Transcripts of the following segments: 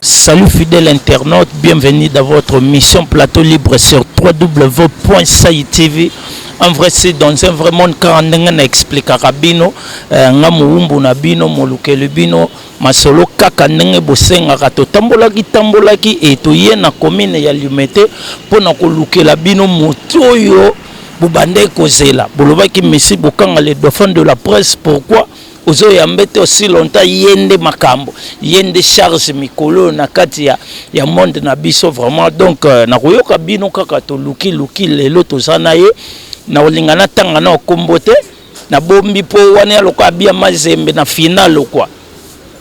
Salut fidèle internaute, bienvenue dans votre mission Plateau Libre sur www.saitv. En vrai, c'est dans un vrai monde car on explique à Rabino, euh, nga muumbu na bino, molukeli bino, masolo kaka ndenge bosengaka totambolaki tambolaki e toye na commune ya Limete mpo na kolukela bino moto oyo bobandaki kozela bolobaki messi bokanga le dauphin de la presse pourquoi ozo ya mbete aussi longtemps yende makambo yende charge mikolo na kati ya ya monde na biso vraiment donc euh, na koyoka bino kaka to luki luki lelo toza na ye na olinga na tanga na okombo te na bombi po wana ya lokola bia mazembe na finale quoi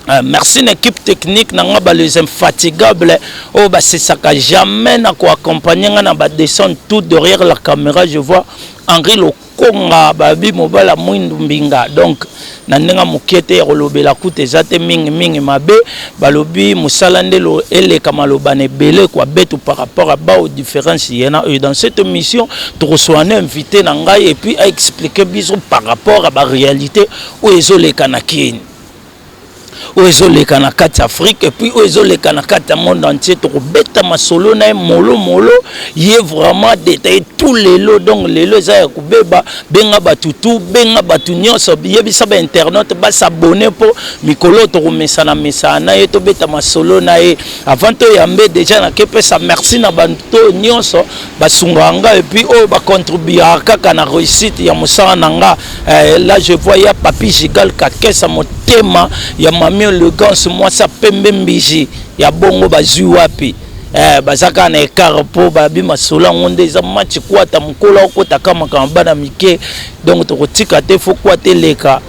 Euh, merci na équipe technique na nga ba les infatigables oyo oh, basesaka jamais na koaccompagne nga na badescendre tout derrière la caméra je vois henri lo konga babi mobala mwindu mbinga donc na ndenge moke te ya kolobela kuta eza te mingi mingi mabe balobi mosala nde eleka maloba na ebele kwa betu par rapport à bao différence yena oyo dans cette mission tokosoa na invité na ngai epuis aexplike biso par rapport à baréalité oyo ezoleka na kini oyo ezoleka na kati ya afrique epuis oyo ezoleka na kati ya monde entier tokobeta masolo na ye molomolo ye vraiment detaille tout lelo donc lelo eza ya kobeba benga bato tu benga bato nyonso yebisa bainternaute basabone mpo mikolo tokomesana mesana na ye tobeta masolo na ye avant toyambe deja nakepesa merci na bato nyonso basungaka nga epuis oyo bacontribuaka kaka na réussite ya mosala na nga eh, là je vois ya papi gigal kakesa motema ya mami elegance mwasi ya pembe mbiji ya bongo bazwi wapi eh, baza kaka na ekare mpo babi masolo yango nde eza match kwata mokolo akotaka makambo bana mike donc tokotika te fo kwata eleka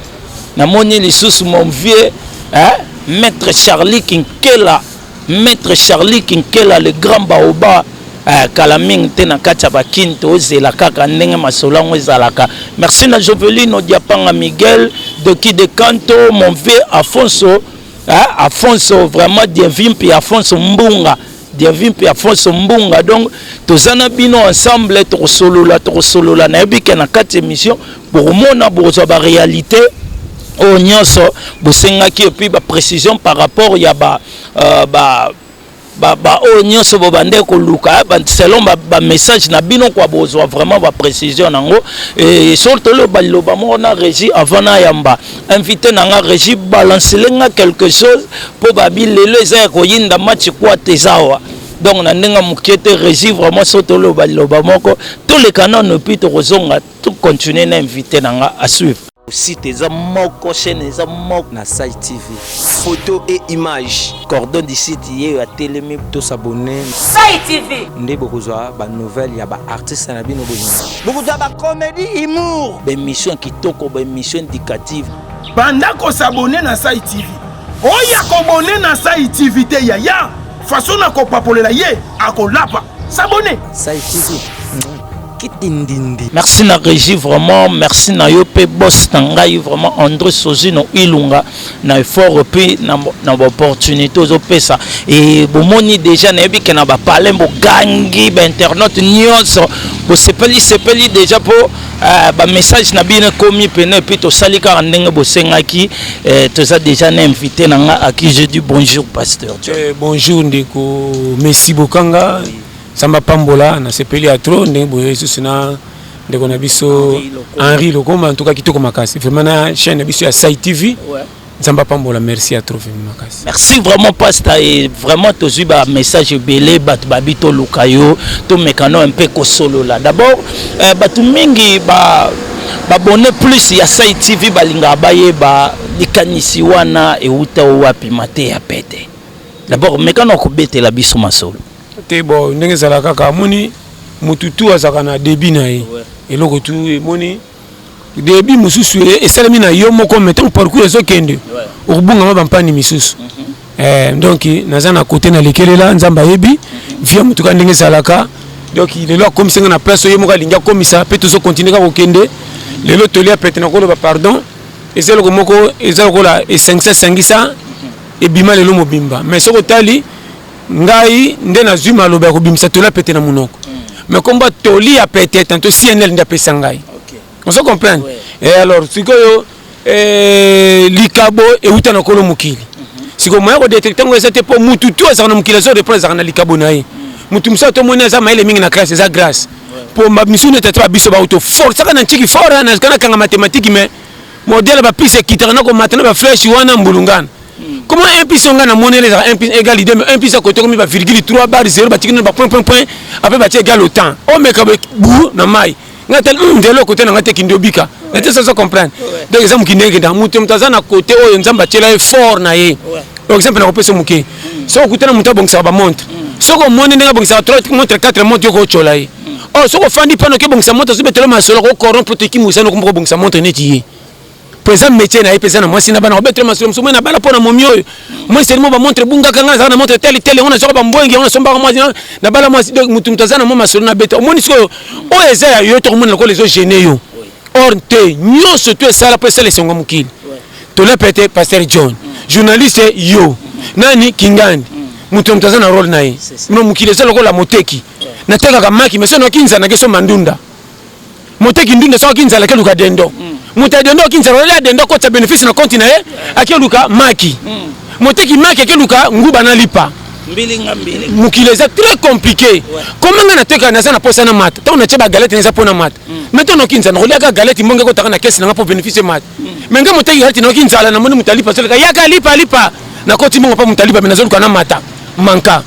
namoni lisusu mon vieux eh, maître charlie kinkela Maitre Charlie Kinkela le grand baoba eh, kala mingi te na kati ya bakini tozela kaka ndenge masolo yango ezalaka merci na jovelino diapanga miguel doki de canto mon vieux afonso eh, afonso vraiment dienvi mpe afonso mbunga dienvi mpe afonso mbunga donc toza na bino ensemble tokosolola tokosolola nayebi ke na kati émission bokomona bokozwa ba realite oyo nyonso bosengaki epuis ba précision par rapport ya ba, uh, ba baoyo nyonso bobandaki koluka eh, selon bamessage na bino kwa bozwa vraiment baprécision nango soki toloba liloba moko na régi avant nayamba invité na nga régi balancele nga quelque chose mpo babi lelo eza ya koyinda match kwate eza awa donc na ndenge moke te régi vraiment soki toloba liloba moko toleka nano epuis tokozonga To continuer na invité na nga à suivre. Site eza moko, chaîne eza moko na Site TV. Photo et images. Cordon du site yeyo atelemi to s'abonner. Site TV. Nde bokozwa ba nouvelles ya ba artistes na bino bolingo. Bokozwa ba comedy humour. Ba émissions kitoko, ba émissions éducatives. Banda ko s'abonner na Site TV. Oya ko bonner na Site TV te yaya. Façon na ko papolela ye akolapa. S'abonner. Site TV. kitindindi merci na régie vraiment merci na yo mpe boss na ngai vraiment andré sozino ilunga na effort mpe na baopportunité ozopesa e bomoni déjà nayebi ke na bapalin bogangi bainternaute nyonso bosepeli sepeli déjà mpo euh, bamessage na bino ekomi pene epuis tosali kaka ndenge bosengaki euh, toza déjà na invité na ngai aki je dis bonjour pasteur eh, bonjour ndeko messi bokanga oui. Nzambe apambola, nasepeli ya trop ndenge boye lisusu na ndeko na biso Henri Lokoma, en tout cas kitoko makasi vraiment na chaîne na biso ya Sai TV. Ouais. Nzambe apambola, merci ya trop vraiment makasi. Merci vraiment pasta et vraiment tozui ba message ebele bato babi toluka yo tomekano un peu kosolola d'abord euh, bato mingi ba babone plus ya Sai TV balingaka bayeba likanisi wana euta wapi mateya pete d'abord mekano kobetela biso masolo te bo ndenge ezala kaka amoni motu tu azalaka na debi na ye eloko tu emoni debi mosusu esalemi na yo moko me ntango parcours ezokende okobungama bampani misusu mhm. eh, donc naza na kote nalekelela nzambe ayebi mhm. via motuka ndenge ezalaka donc lelo akomisi nga na place oyo ye moko alingi akomisa mpe tozokontinue kaka kokende lelo toli ya pete nakoloba pardon eza eloko moko eza lokola esangisa esangisa mhm. ebima lelo mobimba mais soki otali ngai nde nazwi maloba ya kobimisa toli ya pete na monoko mais komba toli ya pete tanto cnl nde apesa ngai ozo comprendre e alors sikoyo eh, likabo euta na kolo mokili sikoyo moya kodetecte yango eza te mpo motu tu azalaka na mokili azo reprendre azalaka na likabo na ye motu mosusu atomoni aza mayele mingi na classe eza grâce mpo misusu neti ata babiso bauto forcaka na ntiki fort nazalaka nakanga matematiki mais modele bapise ekitaka na komata na bafleshi wana mbulungana Comment un piste on a monnaie les un piste égal idée mais un piste à côté comme il va virgule 3 barre 0 bah tu ne pas point point point après bah tu égal autant. Oh mais comme bou na mai. Nga tel hum de l'autre côté na ngate kindobika. Na te ça ça comprendre. Donc exemple qui n'est que dans mutum taza na côté oh nzamba tela fort na ye. Par exemple na kopesa muke. So kutana muta bongisa ba montre. So ko monnaie nga bongisa 3 montre 4 montre yo ko chola ye. Oh so ko fandi pano ke bongisa montre so betelo masolo ko corrompre te ki musano ko bongisa montre neti ye. po eza métier na ye mpe eza na mwasi na bana obetela masolo mosusu moi nabala mpo na momi oyo moi selimo bamontre ebungaka ngai nazalaka na montre tele tele yango nazwaka bambwengi yango nasombaka mwasi nabala mwasi donc motu motu aza na mwa masolo nabeta omoni sikoyo oyo eza ya yo tokomona lokola ezo gene yo or te nyonso to esala mpo esala esengo ya mokili tolepe te paster john journaliste yo nani kingani moto moto aza na role na ye no mokili eza lokola moteki natekaka maki meso nakinza nakesomba ndunda moteki ndunda soki akoki nzala akeluka dendo moto ya dendo akoki nzala olia dendo akotisa bénéfice na konti na ye akeluka maki moteki maki akeluka nguba na lipa mokili eza très compliqué koma ngai nateka naza na posa na mata ntango natye bagalete na eza mpo na mata mai ntango noki nzala nakoliaka galete mbongo ekotaka na kesi na ngai mpo bénéfice mata me nga moteki yati nayoki nzala namoni motali pasoleka yaka lipa lipa nakoti mongo mpa motali babe nazoluka na mata manka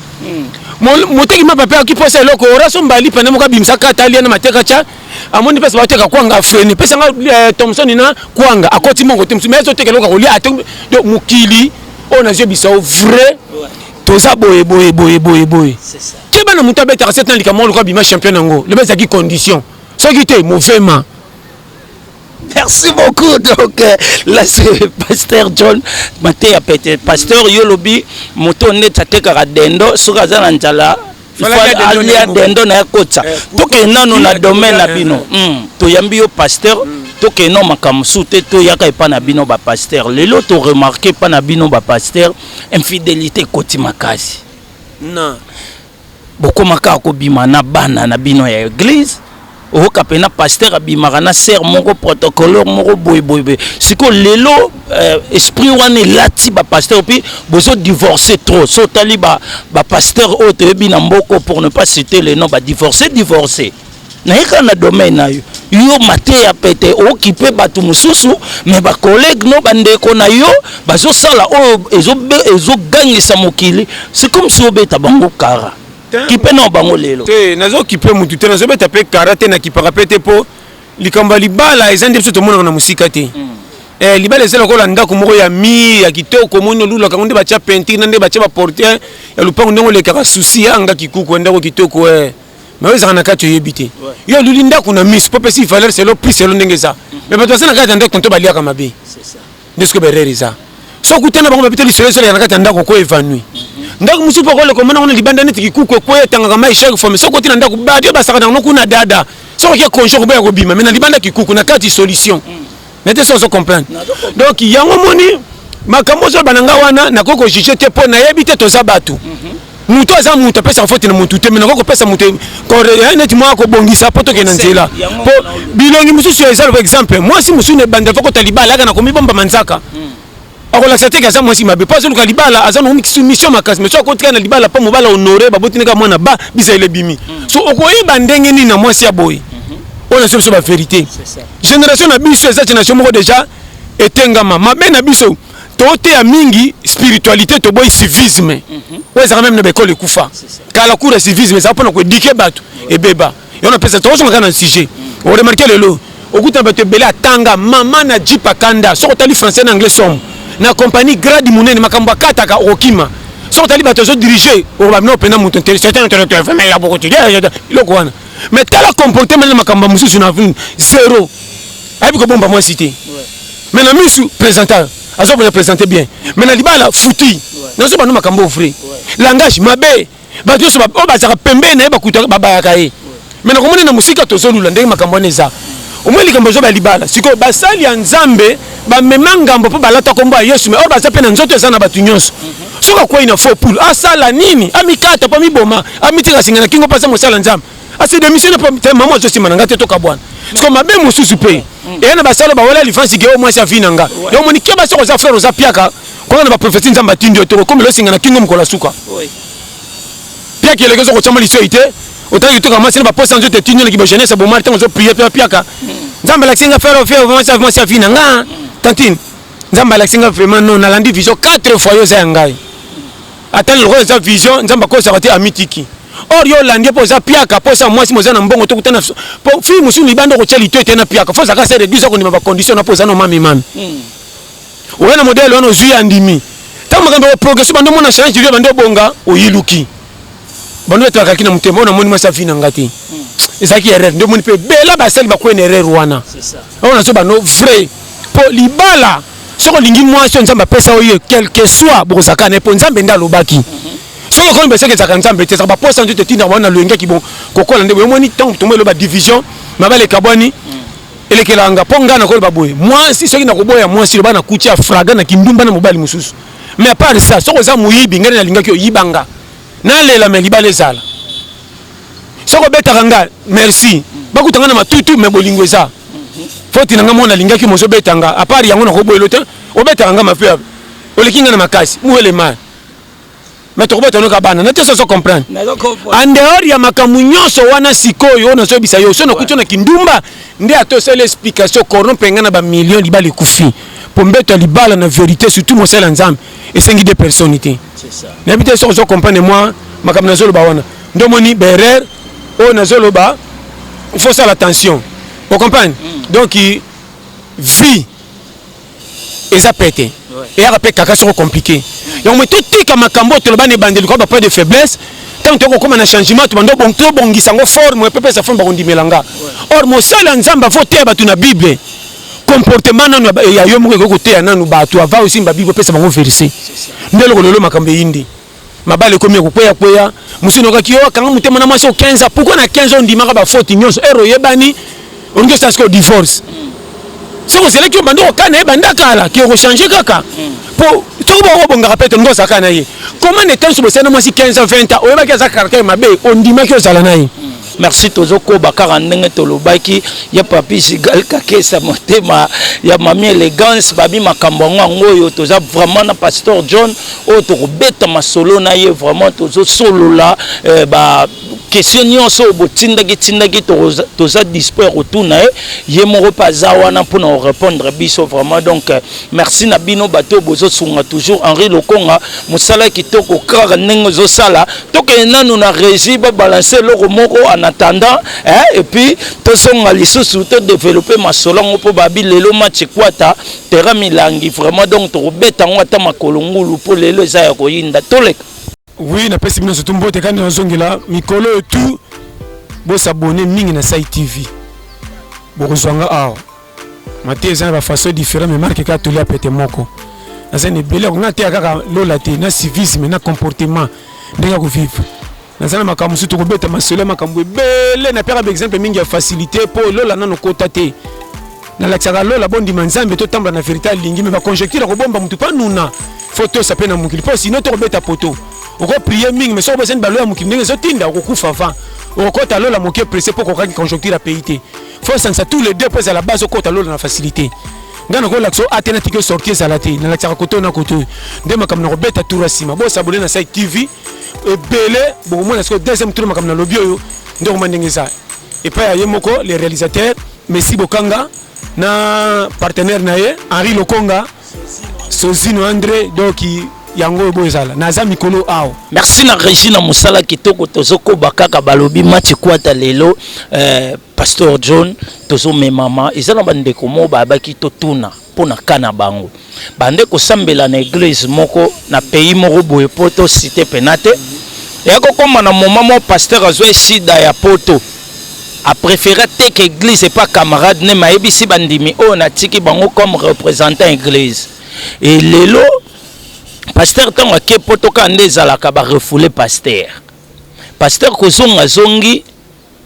moteki mapa mpe ayoki mposa eloko oraso mbali pene moko abimisa kata alia na mateka tya amoni mpesa bateka kwanga frene pesa nga eh, thomson na kwanga akoti mongo te mosusu me azoteka eloko akolia ate mokili oyo nazwi bisao vrai toza boye boye boye boye boye te bana moto abetaka sete na likambo moko lokola bima champion yango loba ezalaki condition soki te movema Merci beaucoup. Donc, euh, là, c'est Pasteur John Matéa Pete. Pasteur Yolobi, moto net atekaka dendo, soki aza na njala, alia dendo na ya kotsa. Eh, Toke nano na domaine na bino. Hmm. Toyambi yo pasteur. Mm. tokende na makambo mosusu te toyaka epai na bino bapaster lelo toremarke epai na bino bapaster infidélité ekoti makasi na Bokoma kaka kobima na bana na bino ya eglise oyoka pena pasteur abimaka na sœur moko protocoleur moko boye boye boye sikoyo lelo euh, esprit wana elati bapasteur puis bozo divorce trop so otali bapasteur oyo toyebi na mboko pour ne pas citer le nom badivorce divorce naye kaka na domaine na yo yo mateya pete okipe bato mosusu me bacollègue no bandeko na yo bazosala oyo ezogangisa mokili c'est comme si obeta bango kara kipe nao bango lelo te nazokipe motu te nazobeta mpe kara te nakipaka mpe te mpo likambo ya libala eza nde biso tomonaka na mosika te mm. eh, libala eza lokola ndako moko ya mire ya kitoko omoni olulaka yango nde batya pentire na nde batya baportiere ya lopango ndenge olekaka susi yanga kikuku ya ndako kitoko eh. mais oyo ezalaka na kati oyebi te yo oluli ndako na miso mpo opesi valeur selo prix selo ndenge eza mais bato baza na kati ya ndako nto baliaka mabe nde soki berere eza so okutana bango babita lisolo ezoleka na kati ya ndako ko evanui ndako mosusu mpo okoleka omona kuna libanda neti kikuku ekweya etangaka mai shake fome soki oti na ndako badio basaka nango kuna dada soki oke konjo koboya kobima mai na libanda kikuku na kati solution mm. nete so ozo comprendre donc yango moni makambo ozoloba na ngai wana nakoki kojuge te mpo nayebi te toza bato mhm. moto aza moto apesaka foti na motu te me nakoki kopesa moto eh, neti mwa kobongisa mpo tokende nzela mpo bilongi mosusu eza loba exemple mwasi mosusu na ebandela fokota libala yaka na komibomba manzaka mm. akolakisa te ke aza mwasi mabe mpo azoluka libala aza na mission makasi mais so akotika na libala mpo mobala honore baboti ndenge mwana ba bizaleli ebimi mm. so okoyeba ndenge nini na mwasi ya boye mhm. oyo na so biso baverité génération na biso eza génération moko déjà etengama mabe na biso toteya mingi spiritualité toboyi civisme mhm. oyo ezalaka meme na baekole ekufa kala cour ya civisme ezala mpona koedike bato ebeba yo na pesa toko songa kana sujet o remarquer lelo okuta bato ebele atanga mama na Jeep akanda soko tali français na anglais somme na compagnie grade munene makambo akataka okokima soko tali bato ezo diriger okoba bino pena moto nteli c'est un intellectuel vraiment ya boko tidi loko wana mais tala comportement na makambo mosusu na zero ayebi kobomba mwasi te mais na misu présentateur azo présenter bien mais na libala futi nazo bando makambo vrai langage mabe bato nyonso oyo bazalaka pembeni na ye bakutaka babayaka ye me nakomona na mosika tozolula ndenge makambo wana eza omoi likambo ezoba ya libala sikoyo basali ya nzambe bamema ngambo mpo balata nkombo ya yesu me oyo baza mpe na nzoto eza na bato nyonso soki akwei na faux poule asala nini amikata mpo amiboma amitika singa na kingo mpo aza mosala nzambe ase demissionne po te mama azo sima na nga te tokabwana siko mabe mosusu mpe mm. eya na basalo bawela lifansi ke o mwasi avi na nga yo omoni ke basoko oza frere oza piaka kona na baprofesi nzambe atindi yo te okomela osinga na kingo mokolo asuka piaka eleki ozo kotyama lisoi te otangi toka mwasi na baposa nzoto etindi yo na kibagenese bomari ntango ozo prie mpe piaka mm. nzambe alakisi nga frere ofere mwasi avi na nga mm. tantine nzambe alakisi nga vraiment non nalandi vision 4 fois yo oza ya ngai ata lokola eza vision nzambe akosaka te amitiki or yo olandi mpo oza piaka mpo osa mwasi moza na mbongo to kutana mpo fille mosusu libanda okotya lito ete na piaka fo ozaka se reduisa kondima bacondition na mpo oza na omami mami hmm. oya na modele wana ozwi andimi ntango makambo ya progression bando omona change yo bando obonga oyiluki bando etwakaki na motema oyo namoni mwasi avi na nga te hmm. ezalaki erreur nde omoni mpe bela basali bakwena erreur wana oyo nazo bando vrai mpo libala soki olingi mwasi oyo nzambe apesa yo ye quelque soit bokozalaka na ye mpo nzambe nde alobaki soki okomi baseke ezalaka nzambe te ezalaka baposa nzoto etindaka bana loyengeki bon kokola nde boye omoni ntango tomo eloba division mabala ekabwani elekelaka nga mpo ngai nakoloba boye mwasi soki nakoboya mwasi loba nakuti ya fraga na kindumba na mobali mosusu mais apart ça soki oza moyibi ngai nalingaki oyibanga nalela me libala ezala soki obetaka nga merci bakuta nga na matutu me bolingo eza foti na nga mona alingaki mozobeta nga apart yango nakoboyelo te obetaka nga mape oleki nga na makasi muhelema me tokobeta noka bana na te soso comprendre en dehors ya makambo nyonso wana sikoyo oyo nazoyebisa yo so nakuti na kindumba nde ata osali explication corrompe nga na bamillion libala ekufi mpo mbeto ya libala na verité surtout mosala nzambe esengi de personne te nayebi te soki ozo comprendre mwa makambo nazoloba wana Nde omoni berer oyo nazoloba, il faut osala attention, o comprendre mm. donc vie eza pete eyaka mpe kaka soko compliqué yango me totika makambo oyo toloba na ebandeli koyeba pas de faiblesse ntango toyoko kokoma na changement tobanda tobongisa yango forme mpe pesa forme bakondimela nga or mosala ya nzambe afo oteya bato na bible comportement nanu ya yo moko ekoki koteya nanu bato ava osimba bible opesa bango verse nde eloko lelo makambo eyindi mabala ekomi ya kokweya kweya mosusu nokaki yo akanga motema na mwasi o 15 ans pourkoi na 15 ans ondimaka bafoti nyonso ero oyebani olingi osala sikoyo divorce soki ozelaki yo banda okaa na ye banda kala ke okochange kaka mpo soki bokobongaka mpe tolingi ozala kaka na ye koma na etanso bosali na mwasi 15 ans 20 ans oyebaki aza caractère mabe ondimaki ozala na ye Merci tozo koba kaka ndenge tolobaki ya papi Gigal Kakesa motema ya mami elegance babi makambo yango yango oyo toza vraiment na pasteur John oyo tokobeta masolo na ye vraiment tozo solola eh, ba question nyonso oyo botindaki tindaki toza dispo ya kotuna ye ye moko mpe aza wana mpona korepondre biso vraiment donc Merci na bino bato bozo sunga toujours Henri Lokonga musala kitoko kaka ndenge ozo sala tokende nanu na régie ba balancer eloko moko en attendant hein, et puis tozonga lisusu to développer masolo yango mpo babi lelo match ekwata terrain milangi vraiment donc tokobeta yango ata makolo ngulu mpo lelo eza ya koyinda toleka oui napesi bino surtout mbote kani nazongela mikolo oyo tout bosabone mingi na sai tv bokozwa nga awa mate eza na ba façon différent mais marque kaka tolia pete moko naza na ebele yango nateya kaka lola te na civisme na comportement ndenge ya kovivre naza na makambo mosusu tokobeta masolo ya makambo ebele napekaka baexemple mingi ya facilité mpo lola nano kota te nalakisaka lola bondima nzambe totambola na verité alingi me baconjecture akobomba motu mpo anuna fo tosa mpe na mokili mpo sino tokobeta poto okoprie mingi me soki obosani balo ya mokili ndenge ezotinda okokufa avant okokota lola moke presse mpo okokaki conjoncture ya pays te faut sangisa tous les deux mpo ezala base okota lola na facilité ngai nakolakisa o ate natiki osorti ezala te nalakisaka koto na koto nde makambo na kobeta tour ya nsima bosabone na sai tv ebele bokomona sikoyo deuxième tour makambo nalobi oyo nde okoma ndenge eza epai ya ye moko le réalisateur messi bokanga na partenaire na ye henri lokonga sozino andre doki yango oyo boezala naza mikolo awa merci na régi na mosala kitoko tozokoba kaka balobi mati kwata lelo eh, pasteur john tozomemama eza na bandeko moko bayabaki totuna mpo na ka na bango bande kosambela na eglise moko na pays moko boye mpo tosite pena te eya kokoma na moma moko pasteur azwa esida ya poto a préfère ateka église epa camarade ne mayebisi bandimi oyo oh, natiki bango comme représentant église e lelo pasteur ntango ake poto kaka nde ezalaka barefoule pasteur pasteur kozonga zongi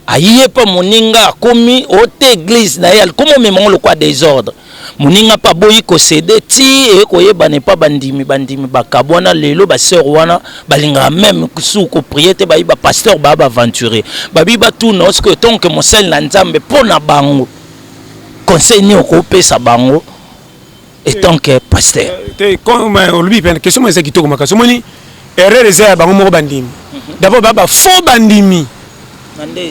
aye mpa moninga akomi ote oh, église na ye alikomi omema ngo lokwa desordre moninga mpe aboyi kosede ti eye koyebana epa bandimi bandimi bakabwana lelo baseur wana balingaka meme su koprie te bayi bapasteur baya baaventurier babi batuna osiko etonke mosali na nzambe mpo na bango conseil nini okopesa bango etonke pasteur eh, eh, olobi mpe question eza kitoko makasi omoni erreur eza ya bango moko bandimi mhm. d'abord baya bafaux bandimi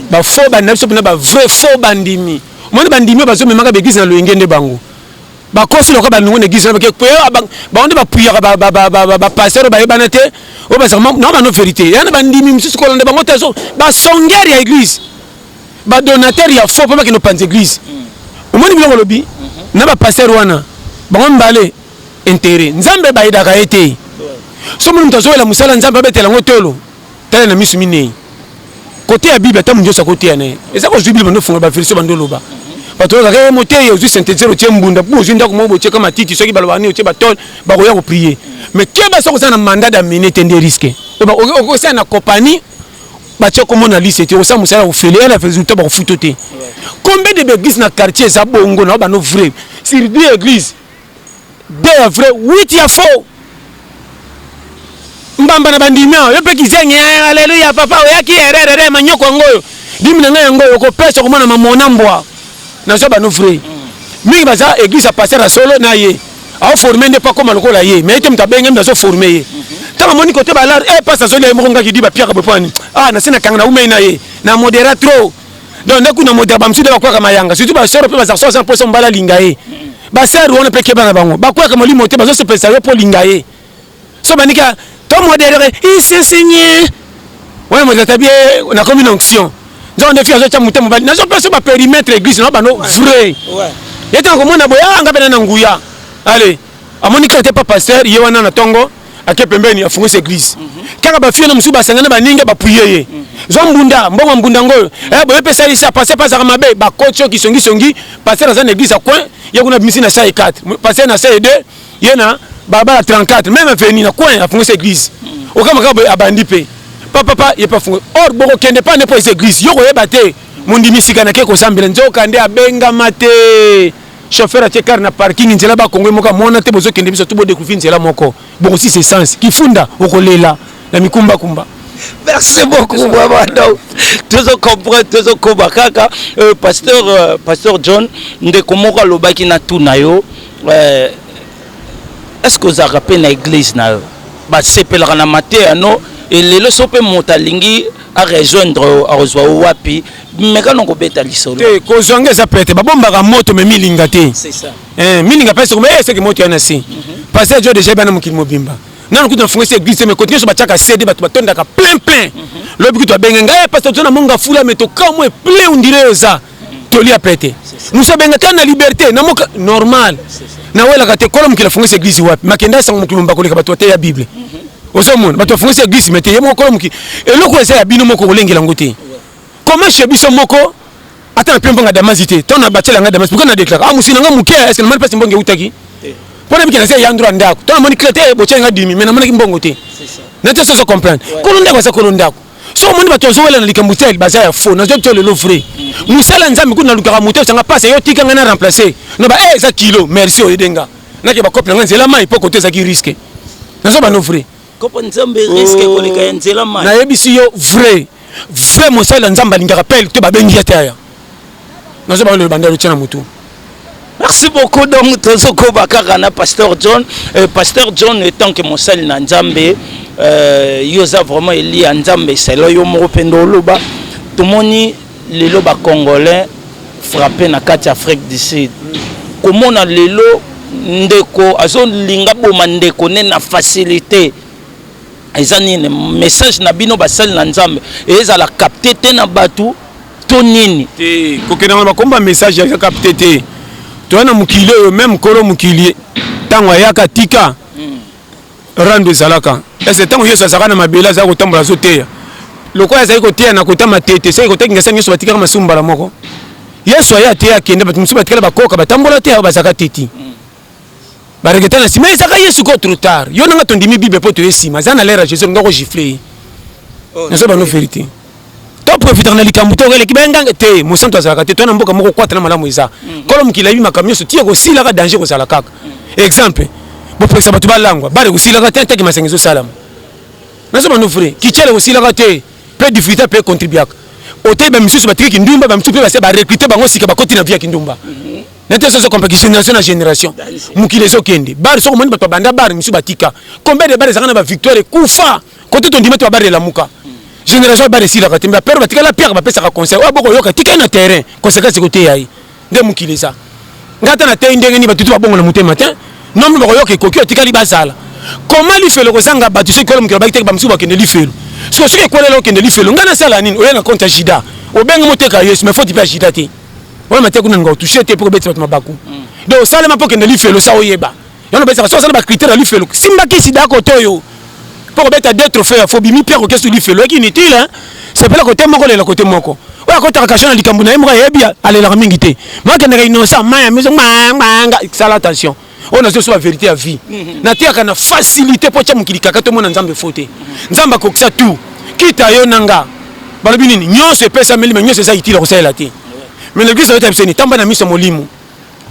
bafaux bandimi na biso mpena bavrai faux bandimi Omoni bandimi bazo memaka beglise na loyenge nde bango bakosi lokola bamingo na eglise bake pe ah, bango nde bapuyaka bapasteur oyo bayebana te oyo bazaka na bano verité ya na bandimi mosusu kolanda bango te basongere ya eglise badonateur ya faux mpo bakende opanza eglise mm. omoni biloko olobi mm-hmm. na bapasteur wana bango mbale intere nzambe bayedaka ye te so moni moto azoyela mosala nzambe abetela yango tolo tala na misu minei kote ya bible ata munyoso akoteya na ye eza kozwi bible ndofunga baversion bando oloba bato olobaka ye eh, moteyi ozwi synthétiseur otie mbunda mpo ozwi ndako moko botieka matiti soki balobaka nini otie batole bakoya koprie mais keba soki oza na mandat d'amene te nde riske okosala na compagnie batie kombo na liste te okosala mosala ofele ya na résultat bakofuto te combien de baeglise na quartier eza bongo na bano vrai sur deux église 2 ya vrai 8 ya faux mbamba na bandimi awa yo mpe kizengi aleluya papa oyaki ererere manyoko yango oyo dimi na ngai yango oyo okopesa okomona mamona mbwa nazwa bano vrai mingi baza église ya paster ya solo na ye aoforme nde mpo akoma lokola ye mai te moto abenge mbi azoforme ye ntango amoni kote balar e eh, pasi azolia ye moko ngaki di bapiaka bopani a ah, nase na kanga na umei na ye na modera trop donc nde kuna modela bamosusu nde bakwaka mayanga surtout basore mpe bazarso aza mposa mobali alinga ye basere wana mpe keba na bango bakwaka molimo te bazosepelisa yo mpo olinga ye so banika to modele isesenye wana modele tabi nakomi na onction nzoko nde fi azotya moto mobali nazopesa baperimetre église na bano vrai ye ntango komona boye anga ah, mpe na na nguya ale amoni kaka te pa pasteur ye wana na ntongo ake pembeni afungisi eglise kaka bafie na mosusu basangana baninga bapuye ye zwa mbunda mbongo mbunda ngo oyo eh, boye mpe esalisi ya paster pasaka mabe bakoti yo kisongisongi paster aza na eglise ya coin ye kuna bimisi na sai 4 paster na sai 2 ye na balabala 34 meme aveni na coin afungisi eglise okamaka boye abandi mpe papapa ye mpe afungi or bokokende mpa nde mpo eza eglise yo koyeba te mondimi sika nake kosambela nzoka nde abengama te chauffeur atie car na parking nzela ba kongo moka mona te bozo kende biso tout bo découvrir nzela moko boko si c'est sens kifunda okolela na mikumba kumba merci beaucoup vraiment donc tozo comprendre tozo koba kaka euh, pasteur euh, pasteur John ndeko moko alobaki na tout na yo euh, est-ce que ozalaka mpe na église na yo basepelaka na mateya no elelo so mpe moto alingi arejoindre yo akozwa yo wapi meka no kobeta lisolo te kozwa nga eza pete babombaka moto me milinga te eh, milinga pese koma eseke eh, moto ya na se mhm. pase jo deja ebana mokili mobimba nanu kutu nafunga esi eglise me kote nyonso batiaka cd bato batondaka plein plein mhm. lobi kutu abenge ngai pase toza na monga fula me tokamwe plein ondire oyo eza mhm. toli ya pete mosu abenga kani na liberté na moka normal nawelaka te kola mokili afunga esi eglise wapi makenda esango mokili mobimba koleka bato bateya bible ozomona bato bafungisi eglise me te ye moko kola mokili eloko eza ya bino moko kolengela yango te Comment chez biso moko ata na pembe nga damazi te to na bacela nga damazi pourquoi na déclare ah musina nga muke est-ce que mani pasi mbongo utaki mpo na bikela se ya ndro ndako to na moni clé te eh, bocela nga dimi mais na monaki mbongo te na te soso comprendre kolo ndako aza kolo ndako so omoni bato bazowela na likambo tel baza ya faux nazoyebi to lelo vrai mosala mm. nzambe kutu nalukaka moto esanga pasi yo tika ngai na remplace na ba eh, eza kilo merci oyede nga nake bakope na ngai nzela mai mpo kote ezaki riske nazobano vrai Kopo nzambe risque oh. koleka ya nzela mai. Nayebisi yo vrai. Vrai mosali ya nzambe alingaka pele te babengi ye te aya. Nazo ba le banda lotia na motu. Merci beaucoup donc tozo koba kaka na pasteur John. Euh, pasteur John étant que mosali na nzambe euh, yo za vraiment eli ya nzambe selo yo moko pendo oloba. Tomoni Lelo ba congolais frappe na kati ya Afrique du Sud. Komona lelo ndeko azo linga boma ndeko ne na facilite. Eza nini message na bino basali na Nzambe ezala capte te na batu to nini? Te kokenda na bakomba message ya capte te. Toya na mokili oyo meme kolo mokili tango ayaka tika rando ezalaka ese ntango yesu azalaka na mabele azalaki kotambola azoteya lokola azali koteya na kota matete soki kota kingasa nyonso batikaka masumu mbala moko yesu aye ateya akende bato mosusu batikala bakoka batambola te ayo bazalaka te ti bareketa na nsima ezalaka yesu ko trop tard yo nanga tondimi bible mpo toye nsima aza na lere ya jesus olinga kogifle ye oh, nazo bano verité to profitaka na likambo te okeleki bayenganga te mosantu azalaka te to na mboka moko kwata na malamu eza mm. kolo mokili ayebi makambo nyonso ti ekosilaka danger kozala kaka mm. exemple bopekisa bato balangwa bale kosilaka te ntaki masanga ezosalama nazo bando fre kicele kosilaka te mpe difficulté mpe contribuaka oteyi bamisusu batiki kindumba bamisusu mpe base barecrute bango sika bakoti na vie ya kindumba mm-hmm. nete soso kompaki génération na génération mokili ezokende bar sokomoni bato babanda bar misusu batika combien de bar ezalaka na bavictoire ekufa kote tondima te babare elamuka génération babare esilaka te mbe apere batikali apiaka bapesaka conseil oyo aboko yoka tikali na terrain conséquence ekoteya ye nde mokili eza ngai ata nateyi ndenge nini batutu babongo na motema te nombre bakoyoka ekoki otikali bazala koma lifelo kozanga bato soki kola mokili obaki teke bamosusu bakende lifelo soki soki ekwelela okende lifelo ngai nasala nini oya na compte ya jida obengi moteka yesu mais foti mpe ya jida te oya mateya kuna ninga otouche te mpo kobeti bato mabaku mm. donc osalema mpo okende lifelo sa oyeba Yano besa so sala ba critères ya lifelo. Simba kisi dako toyo. Pour beta deux trophées ya Fobimi Pierre Okesu lifelo qui inutile hein. C'est pas côté moko le côté moko. Oya ko taka kashana likambo na ye moko yebi alela mingi te. Moi que ndaka innocent maya miso manga sala attention. oyo nazo soba verité ya vie mhm. nateyaka na facilité mpo atya mokili kaka tomona nzambe fo te nzambe akokisa tout kita yo na nga balobi nini nyonso epesameli me nyonso eza itile kosalela te mais na biso ayota biseni tamba na miso ya molimo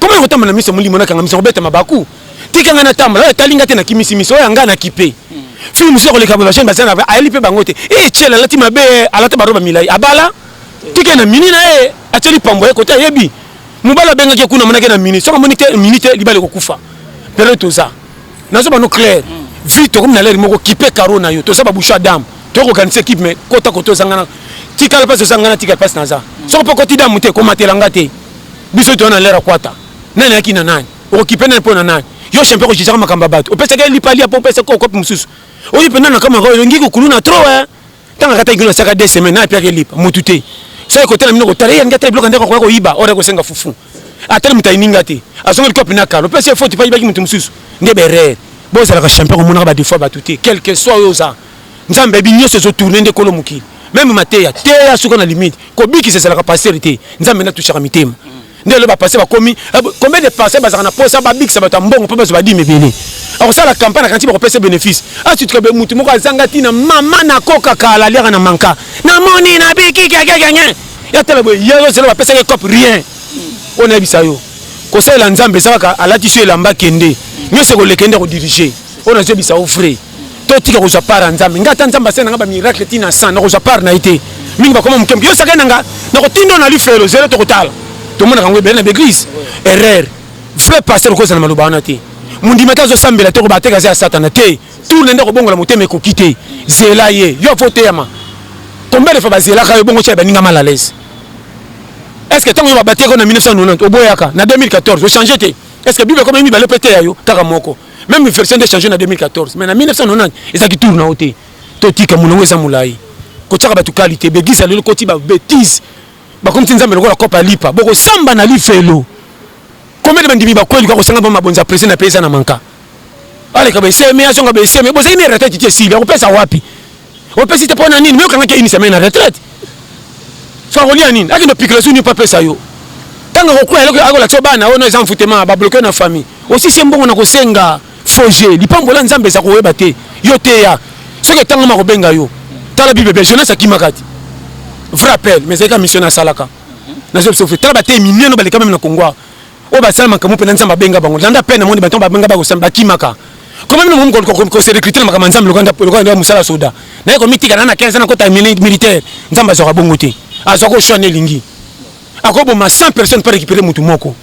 Comment il retombe na miso molimo na kanga miso kobeta mabaku. Tika nga na tambola, oyo tali nga te na kimisi miso, oyo nga na kipe. Film sio koleka ba chaîne basana ba ayeli pe bango te. Eh chela lati mabe, alata ba roba milai. Abala. Tika na mini na ye, acheli pambo ye kote ayebi. Mobala bengaki kuna monaki na mini. Soko moni te mini te libale kokufa. Pero toza. nazo bano clair vie tokomi na lere moko kipe karo na yo toza babouche ya dame toyoko organise ekipe me kota koto ezangana tikala mpasi ozangana tikala mpasi naza soko mpe okoti damu te komatela nga te biso toya na lere akwata nani ayaki na nani okokipe nani mpo na nani yo champion kojijaka makambo ya bato opesaki lipa lia mpo opesa ko kope mosusu oyo mpenza nakamaka olingi kokulu na tro eh? Tanga kata kilo saka deux semaines na piaka lipa mutu te. Sasa kote na mino kotala yangi ata bloka ndako kwa koiba ora kosenga fufu. Atali mutai ninga te. Azonga likopo pina kalo. Pesi ya faute pa ibaki mutu mususu. Nde berere. Bo zalaka champion ko monaka ba defaut ba tute. Quel que soit yo za. Nzambe bi nyoso zo tourner nde kolo mokili. Meme mateya teya suka na limite. Kobikisa ezalaka pasteur te. Nzambe na touchaka mitema. nde lelo bapase bakomi eh, combien de pase bazalaka na posa babikisa bato ya mbongo mpo bazwa badime ebele akosala campagne na kanti bakopesa bénéfice asituka be motu moko azanga ntina mama nakoka kala aliaka na manka namoni nabiki kiakiakiange yatala boye ye ozela bapesaki cop rien oyo nayebisa yo kosalela nzambe eza kaka alati so elamba kende nyonso ekolekende kodirige oyo nazoyebisa yo vrai totika kozwa part ya nzambe ngai ata nzambe asali na ngai bamiracle ti na san nakozwa part na ye te mingi bakoma mokembo yo sakani na ngai nakotinda na lifelo zero tokotala tomonaka yango ebele na baeglise erreur vrai pasteur okozala na maloba wana te mondimi ata azosambela te kobateka aza ya satana te tour na nde akobongola motema ekoki te zela ye yo fo teyama combien de fois bazelaka yo bongo tya baninga mal à l'aise est ce que ntango yo babateka na 1990 oboyaka na 2014 ochange te est ce que bible ekoma mibale mpe teya yo kaka moko meme version nde change na 2014 mais na 1990 eza kitour na yo te totika molongo eza molai kotyaka bato kalite beglise ya lelo koti babetise bakomisi nzambe lokola kopa lipa bokosamba na lifelo komede bandimi bakweli kwa kosanga ba mabonza presi na mpe eza na manka aleka beseme azonga beseme bozali na erata titi esili akopesa wapi opesi te mpo na nini me okangaki ya une semaine na retraite so akolia nini akende opikela su nini mpo apesa yo ntango akokwela eloko akolakisa bana oyo no eza mfutema babloke na famille osisi mbongo na kosenga foje lipambola nzambe eza koyeba te yo teya soki etangama akobenga yo tala bible bia jonas akimaka te vrai appel mais ezalika mission nasalaka nazo biso fe tala bateyi minene baleka meme na kongo oyo basala makambo mpe na nzambe abenga bango landa mpe namoni bato babenga bakosala bakimaka koma bino mokomi kose recrute na makambo ya nzambe lokola nde mosala soda naye komitika na na 15 na kota militaire nzambe azwaka bongo te azwaka oshwa nde elingi akoboma 100 personne mpo récupere motu moko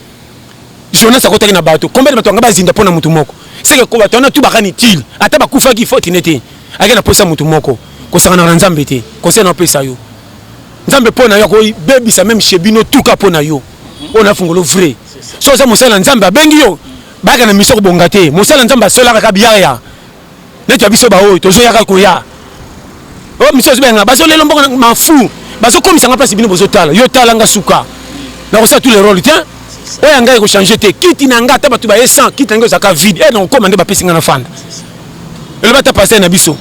jonas akotaki na bato kombele bato yanga bazinda mpo na motu moko seke ko bato wana tu bakani tile ata bakufaki foti ne te ake na mposa motu moko kosangana na nzambe te conseil na opesa yo nzambe mpo na yo akobebisa meme chez bino tuka mpo na yo oyo na fungolo vrai so oza mosali na nzambe abengi yo bayaka na miso kobonga te mosali na nzambe asolaka kaka biyaya neti ya biso baoyo tozoyaka koya o oh, miso azobenga bazolela mbongo mafu bazokomisa nga mpasi bino bozotala yo tala nga suka nakosala tous les rôles te oyo ya ngai ekochange te kiti na ngai ata bato baye 100 kiti na ngai ozalaka vide e eh, nakokoma nde bapesi ngai na fanda eloba ata pasai na biso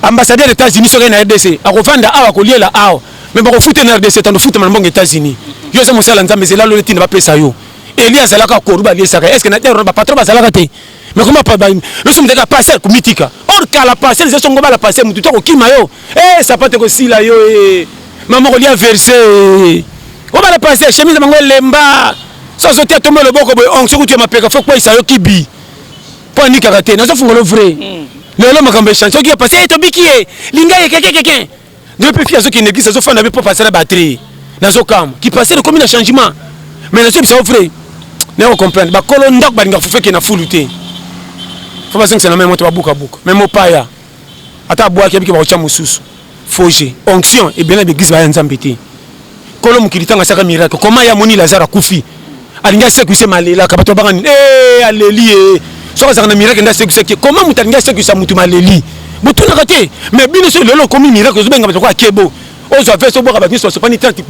ambassadeur etats-unis soki na rdc akofanda awa akoliela awa mais bakofuta na rdc tando futa na mbongo états-unis yo oza mosala nzambe zela lole ntina bapesa yo eli azalaka koru baliesaka estce na terre bapatron bazalaka te mais koma loso mutaka passer komitika or kala passer eza songo bala passer mutu to kokima yo eh sapate kosila yo eh mama kolia verse eh. obala passer chemise bango elemba so azotia tombe loboko boye onk soki otie mapeka fo kweisa yo kibi mpo anikaka te nazofungola vrai hmm. lelo makambo echange soki ya pasi etobiki ye linga ye kekekeke ngai mpe fille azokende eglise azofanda mpe papa asala batrie nazokama kipasele ekomi na changement mais nazoyebisa yo vrai naye kocomprendre bakolo ndako balingaka fufu ekende na fulu te fo bazongisa na mai moto babukabuka mai mopaya ata abwaki abiki bakotya mosusu foge onction ebele na baeglise baya nzambe te kolo mokili ntango asaka miracle koma ye amoni lazare akufi alingi asekwise malelaka bato babanga nini e aleli ye soki azalaka na miracle nde asekwisaki ye koma moto alingi asekwisa moto maleli botunaka te mais bino soki lelo okomi miracle ozobenga bato kwa akebo ozwa veste obwaka bato nyonso basopani tante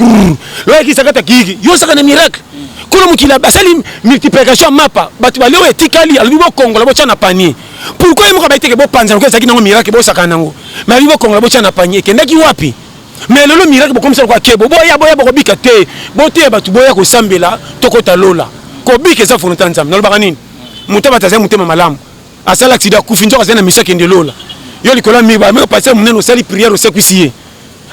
loyakisakata kiyiki yo osaka na miracle kolo mokili basali multiplication mapa bato balio etikali alobi bokongola botya na panier pourkoi ye moko abayi teke bopanzana ko ezalaki nango miracle bosakana nango mais alobi bokongola botya na panier ekendaki wapi mais lelo miracle bokomisa lokola kebo boya boya bokobika te boteya bato boya kosambela tokota lola kobika eza volonté ya nzambe nalobaka nini moto abata azali motema malamu asala aksida akufi nzoka azali na misa kende lola yo likolo ya mire bameka pasere monene osali priere osekwisi ye